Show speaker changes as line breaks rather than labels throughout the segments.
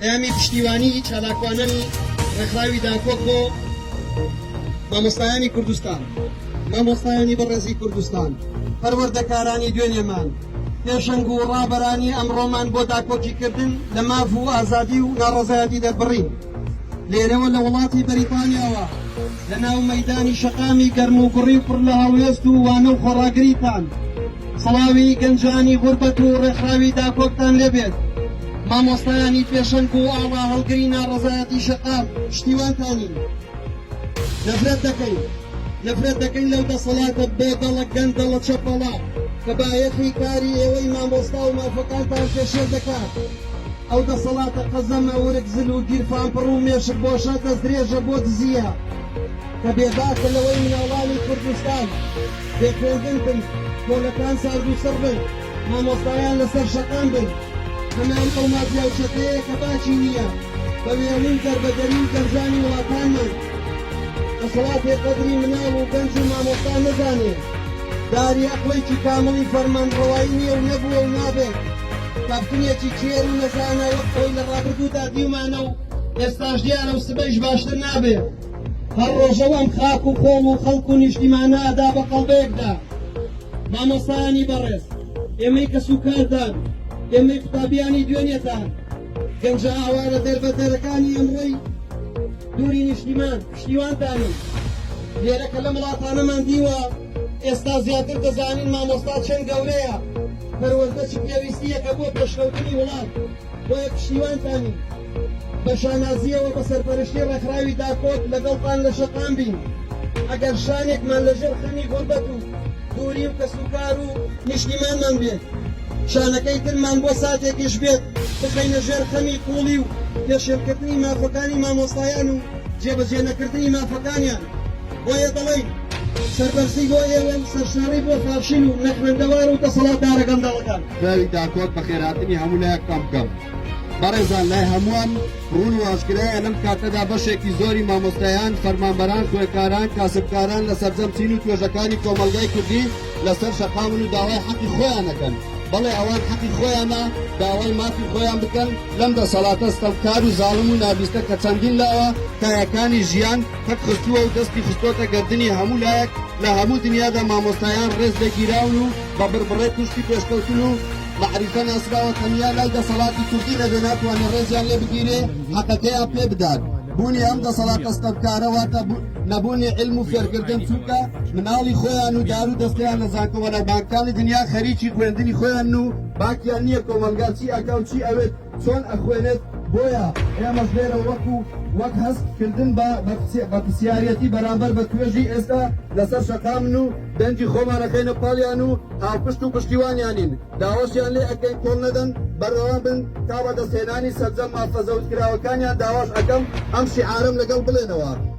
پەیامی پشتیوانی چالاکوانانی ڕێکخراوی داکۆک بۆ مامۆستایانی کوردستان مامۆستایانی بەڕێزی کوردستان پەروەردەکارانی دوێنێمان پێشەنگ و ڕابەرانی ئەمڕۆمان بۆ داکۆکیکردن لە ماف و ئازادی و ناڕەزایەتی دەربڕین لێرەوە لە وڵاتی بەریتانیاوە لە ناو مەدانی شەقامی گەرم و گوڕی پڕ لە هەڵوێست و وانە و خۆڕاگریتان سڵاوی گەنجانی غوربەت و ڕێکخراوی داکۆکتان لێ بێت مامۆستایانی پێشەنگ و ئاڵا هەڵگری ناڕەزایەتی شەقام پشتیوانتانین نەفرەت دەکەین نەفرەت دەکەین لەو دەسەڵاتە بۆدەڵە گەندەڵە چەپەڵە کە بایەخی کاری ئێوەی مامۆستا و مافەکانتان پێشێل دەکات ئەو دەسەڵاتە قەزەمە ورگ زل و گیرفانپڕ و مێشک بۆشە دەستدرێژە بۆ دزییە کە بێباکە لەوەی مناڵانی کوردستان بێ خوێندن بن، سکۆلەکان سارد و سڕ بن، مامۆستایان لەسەر شەقام بن. هەمان ئەو مافیا و چەتەیە کە باکی نییە بە وێڵ و دەربەدەری و گەنجانی وڵاتانمان. دەسەڵاتێ قەدری مناڵ و گەنج و مامۆستا نەزانێ، داری ئەقڵێکی کامڵی فەرمانڕەوایی نییە و نەبووە و نابێت. کاپتنێکی کێر و نەزانە وەک خۆی لە ڕابردوودا دیومانە و ئێستاش دیارە و سبەیش باشتر نابێ. هەر ڕۆژە و ئەم خاک و خۆڵ و خەڵک و نیشتیمانە ئەدا بە قەڵبەیەکدا مامۆسایانی بەڕێز ئێمەی کەس و کاردان ئێمەی قوتابیانی دوێنێتان گەنجە ئاوارە دەربەدەرەکانی ئەمڕۆی دووری نیشتیمان پشتیوانتانین لێرە کە لەم وڵاتانەمان دیوە ئێستا زیاتر دەزانین مامۆستا چەند گەورەیە پەروەردە چ پێویستیەکە بۆ پێشکەوتنی وڵات بۆیە پشتیوانتان ین بە شانازییەوە بە سەرپەرشتی ڕێکخراوی داکۆک لەگەڵتان لە شەقام بین ئەگەر شانێکمان لە ژێر خەمی غوربەت و دووری و کەسوکار و نیشتیمانمان بێت شانەکەی ترمان بۆ ساتێکیش بێت بخەینە ژێر خەمی قوڵی و پێشێلکردنی مافەکانی مامۆستایان و جێبەجێ نەکردنی مافەکانیان بۆیە دەڵێین سەربەرزی بۆ ئێوە و سەرشۆڕی بۆ فاشیل و نەخوێندەوار و دەسەڵاتدارە گەندەڵەکان. پیاوی داکۆک
بەخێرهاتنی هەموو لایەک تەم بکەم. بەڕێزان لای هەمووان ڕوون و ئاشکرایە لەم کاتەدا بەشێکی زۆری مامۆستایان، فەرمانبەران، خوێندکاران، کاسبکاران لە سەرجەم چین و توێژەکانی کۆمەڵگای کوردی لەسەر شەقامن و داوای حەقی خۆیان ئەکەن. بەڵێ ئەوان حەقی خۆیانە داوای مافی خۆیان بکەن لەم دەسەڵاتە ستەمکار و زاڵم و نابیستە کە چەندین لاوە کایەکانی ژیان پەک خستووە و دەستی خستۆتە گەردنی هەموو لایەک لە هەموو دنیادا مامۆستایان ڕێز لێ گیراون و بە بڕبڕەی پشتی پێشکەوتن و مەعریفە ناسراوە تەنیا لای دەسەڵاتی کوردی نەبێ ناتوانێ ڕێزیان لێ بگیرێ حەقەکەیان پێ بدات بوونی ئەم دەسەڵاتە ستەمکارە واتە نەبوونی علم و فێرکردن چونکە مناڵی خۆیان و دار و دەستیان لە زانکۆوەلە بانکانی دنیا خەریکی خوێندنی خۆیان و باکیان نییە کۆمەلگا چی ئەکا و چی ئەوێت چۆن ئەخوێنێت بۆیە ئێمەش لێرە وەکو وەک هەست کردن بە بەپسیارەتی بەرامبەر بە توێژی ئێستا لەسەر شەقامن و دەنگی خۆمانەکەینە پاڵیان و هاوپشت و پشتیوانیانین داواشیان لێ ئەکەین کۆڵ نەدەن بەردەوام بن تا بەدەستهێنانی سەرجەم مافە زەوتکراوەکانیان داواش ئەکەم ئەم شیعارەم لەگەڵ بڵێنەوە.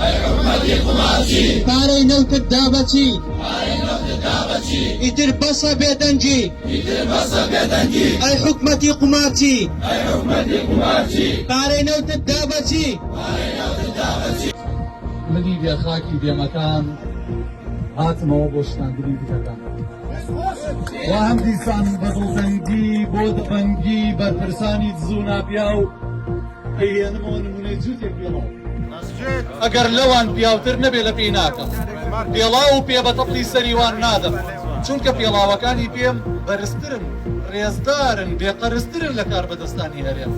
ئەی حکومەتی قومارچی. پارەی نەوتت دا بە چی؟ پارەی نەوتت دا بە چی؟ ئیتر بەسە بێدەنگی. ئیتر بەسە بێدەنگی. ئەی حکومەتی قومارچی. ئەی حکومەتی قومارچی. پارەی نەوتت دا بە چی؟
پارەی نەوتت دا بە چی؟ منی بێ خاکی بێ مەکان هاتمەوە بۆ شکاندنی بتەکان. وا هەم دیسان بە دڵتەنگی بۆ دەبەنگی بەرپرسانی دز و ناپیاو، ئەیهێنمەوە نمونەی جووتێک پێڵاو ئەسجێت ئەگەر لەوان پیاوتر نەبێ لە پێی ناکەم پێڵاو و پێ بە تەپڵی سەری وان نادەم چونکە پێڵاوەکانی پێم بەرزترن ڕێزدارن بێ قەرزترن لە کاربەدەستانی هەرێم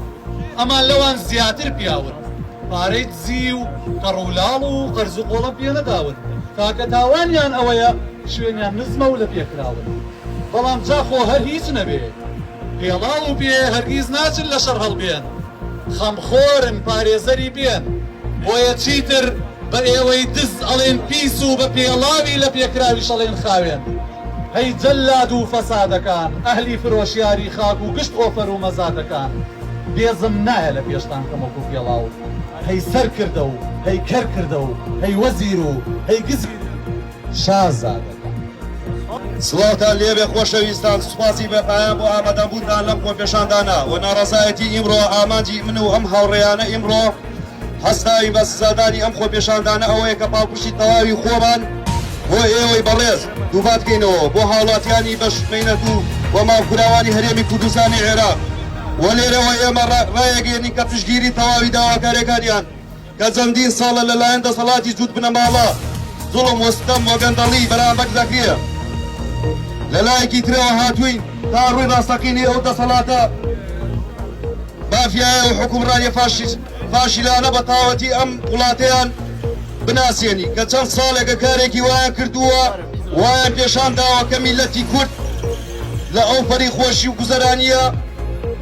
ئەمان لەوان زیاتر پیاون پارەی دزی و کەڕ و لاڵ و قەرز و قۆڵم پێ نەداون تاکە تاوانیان ئەوەیە شوێنیان نزمە و لە پێ کراون بەڵام جا خۆ هەر هیچ نەبێ پێڵاو و پێ هەرگیز ناچن لە شەڕ هەڵبێن، خەمخۆرن پارێزەری بێن، بۆیە چیتر بە ئێوەی دز ئەڵێن پیس و بە پێڵاوی لە پێکراویش ئەڵێن خاوێن. هەی جەلاد و فەسادەکان، ئەهلی فرۆشیاری خاک و گشت ئۆفەر و مەزادەکان، بێزم نایە لە پێشتان کەم وەکوو پێڵاو، هەی سەرکردە و هەی کەرکردە و هەی وەزیر و هەی گزیر، شازادە.
سڵاوتان لێبێ خۆشەویستان، سوپاسی بێپایان بۆ ئامادەبوونتان لەم خۆپێشاندانە و ناڕەزایەتی ئیمڕۆ، ئامانجی من و ئەم هاوڕێیانە ئیمڕۆ هەستاوین بە سزادانی ئەم خۆپێشاندانە ئەوەیە کە پاڵپشتی تەواوی خۆمان بۆ ئێوەی بەڕێز دووپات کەینەوە بۆ هاوڵاتیانی بەش مەینەت و و ماڵکوراوانی هەرێمی کوردستانی عێراق و لێرەوە ئێمە ڕا ڕایەگەیەنین کە پشتگیری تەواوی داواکارێکانیان کە جەندین ساڵە لە لایەن دەسەڵاتی جووت بنەماڵە زوڵم وستەم وگەندەڵی بەرامبەک دەکرێ لە لایەکی ترەوە هاتووین تا ڕووی ڕاستەقینی ئەو دەسەڵاتە مافیایە و حکومڕانی فاشیست فاشیلانە بە تاوەتی ئەم وڵاتیان بناسیێنی کە چەند ساڵێکە کارێکی وایان کردووە وایان پێشان داوەکە میلەتی کورد لە ئەو پەری خۆشی و گوزەرانیە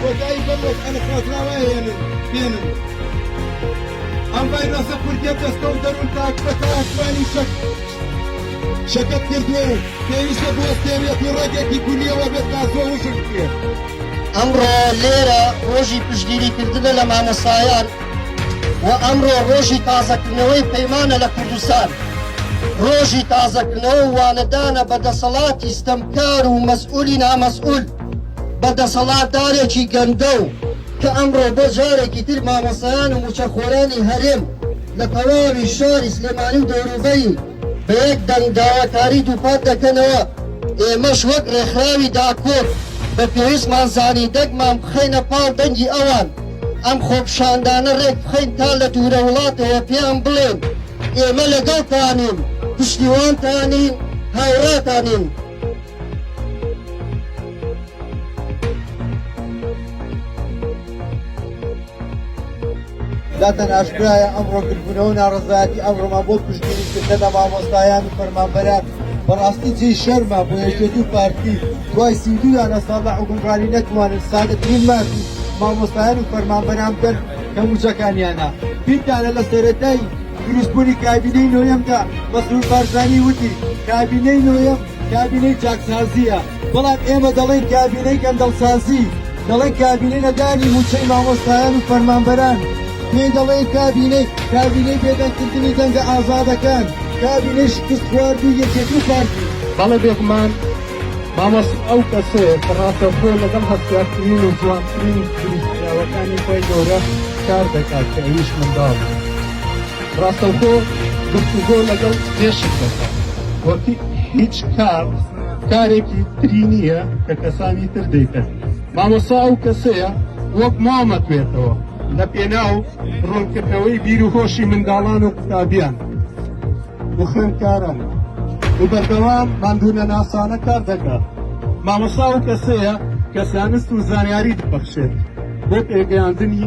کۆتایی بەم وەک ئەنقەسراوە هێنن بێنن ئەم ڤایرۆسە کوردیە دەستە و دەرون تاک بە تاکوانی شەک شەکەت کردووە و پێویستە بۆ تێرێت و ڕێگێکی
گونیەوە بێت تا زۆ وشک بکرێت ئەمڕۆ لێرە ڕۆژی پشگیری کردنە لە مامۆسایان و ئەمڕۆ ڕۆژی تازەکردنەوەی پەیمانە لە کوردستان ڕۆژی تازەکردنەوە وانەدانە بە دەسەڵاتی ستەمکار و مەسئولی نامەسئول بە دەسەڵاتدارێکی گەندەڵ کە ئەمڕۆ بۆ جارێکی تر مامۆستایان و مووچەخۆرانی هەرێم لە تەواوی شاری سلێمانی و دەوروبەری بە یەک دەنگ داواکاری دووپات دەکەنەوە، ئێمەش وەک ڕێکخراوی داکۆک بە پێویستمان زانی دەگمان بخەینە پاڵ دەنگی ئەوان، ئەم خۆپیشاندانە ڕێک بخەین تا لە دوورە وڵاتەوە پێیان بڵێین ئێمە لەگەڵتانین، پشتیوانتانین، هاوڕاتانین.
داتان ئاشکرایە ئەمڕۆ گربوونەوە ناڕزایەتی ئەمڕۆمان بۆ پشتگیریکردن لە مامۆستایان و فەرمانبەران بەڕاستی جێ شەرمە بۆ یەکێت و پارتی دوای سیدویانە ساڵە حکومڕانی نەتوانن سادەترین مافی مامۆستایان و فەرمانبەران بەر کە موچەکانیانە بیرتانە لە سەرەتای دروستبوونی کابینەی نۆیەمدا مەسرور بارزانی وتی کابینەی نۆیەم کابینەی چاکسازییە، بەڵام ئێمە دەڵێین کابینەی گەندەڵسازی، دەڵێین کابینەی نەدانی مووچەی مامۆستایان و فەرمانبەران، پێی دەڵێین کابینەی، کابینەی بێدەنگکردنی دەنگە ئازادەکان، کابینەی شکستخواردووی یەکێتی و پارتی. بەڵێ بێگومان
مامۆستا ئەو کەسەیە کە ڕاستەوخۆ لەگەڵ هەستیارترین و جوانترین دروستکراوەکانی خوای گەورە کار دەکات کە ئەویش منداڵە. ڕاستەوخۆ گفتوگۆ لەگەڵ مێشک دەکا وەکی هیچ کار کارێکی تری نییە کە کەسانی تر دەیکەن مامۆسا ئەو کەسەیە وەک مامەتوێتەوە لە پێناو ڕوونکردنەوەی بیر و هۆشی منداڵان و قوتابیان و خوێندکاران و بەردەوام ماندوونە ناسانە کار دەکات مامۆسا و کەسەیە کە زانست و زانیاری دەبەخشێت بۆ پێگەیاندنی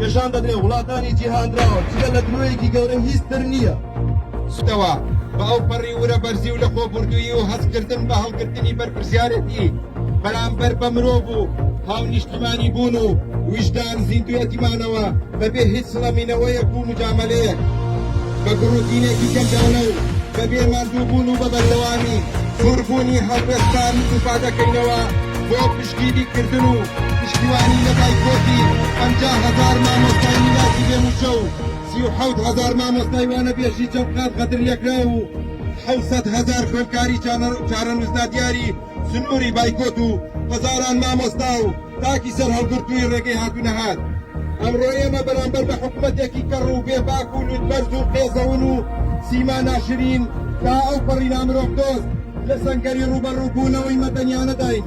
نیشان دەدرێ وڵاتانی جیهاندراوە جگە لە درۆیەکی گەورە هیچ تر نییە. ستەوە بە ئەو پەڕی ورە بەرزی و لە خۆ بوردوویی و هەست کردن بە هەڵگرتنی بەرپرسیارێتی بەرامبەر بە مرۆڤ و هاونیشتیمانی بوون و ویژدان زیندووێتی مانەوە بە بێ هیچ سڵەمینەوەیەک و موجامەلەیەک بە گڕوتینێکی گەندەڵە و بە بێ ماندوو بوون و بە بەردەوامی سوور بوونی هەڵوێستان دووپا دەکەینەوە بۆ پشتگیری کردن و پشتیوانی لە بایکۆتی پەنجا هەزار مامۆستای میراتی بێ مووچە و سی و حەوت هەزار مامۆستای وانەبێژی چەند قات غەدرلێکراو و حەوت سەد
هەزار خوێندکاری چارەنووس نادیاری سنووری بایکۆت و هەزاران مامۆستا و تاکی سەرهەڵگرتووی ڕێگەی هاتوونەهات ئەمڕۆ ئێمە بەرامبەر بە حکومەتێکی کەڕ و بێباک و لوتبەرز و قێزەون و سیما ناشرین تا ئەوپەڕی نامرۆڤدۆست لە سەنگەری ڕووبەڕووبوونەوەی مەدەنیانەداین.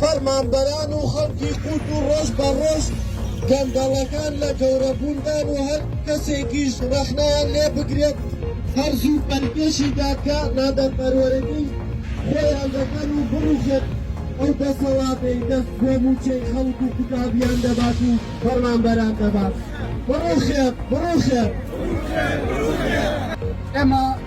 فەرمانبەران و خەڵکی کورد و ڕۆژ بە ڕۆژ گەندەڵەکان لە گەورە بووندان و هەر کەسێکیش ڕەخنەیان لێ بگرێت هەر زوو پەلکێشی دادگا نادادپەروەرەکەی خۆیان دەکەن و بڕوخێت ئەو دەسەڵاتەی دەست بۆ مووچەی خەڵک و قوتابیان دەبات و فەرمانبەران دەبات بڕوخێت بڕوخێت.
ئێمە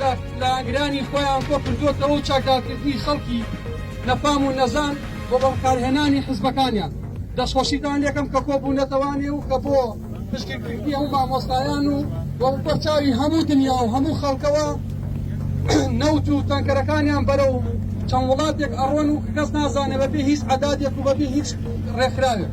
لە ئاگرانی خۆیان کۆکردۆتەوە و چاکدارکردنی خەڵکی نەفام و نەزان بۆ بەکارهێنانی حزبەکانیان دەستخۆشیتان لەکەم کە کۆبوونەتەوانێ و کە بۆ پشتگیرکردنی ئەو مامۆستایان و بەچاوی هەموو دنیا و هەموو خەڵکەوە نەوت و تەنکەرەکانیان بەرە و چەند وڵاتێک ئەڕۆن و کەس نازانێ بەبێ هیچ عدادێک و بەبێ هیچ ڕێکخراوێک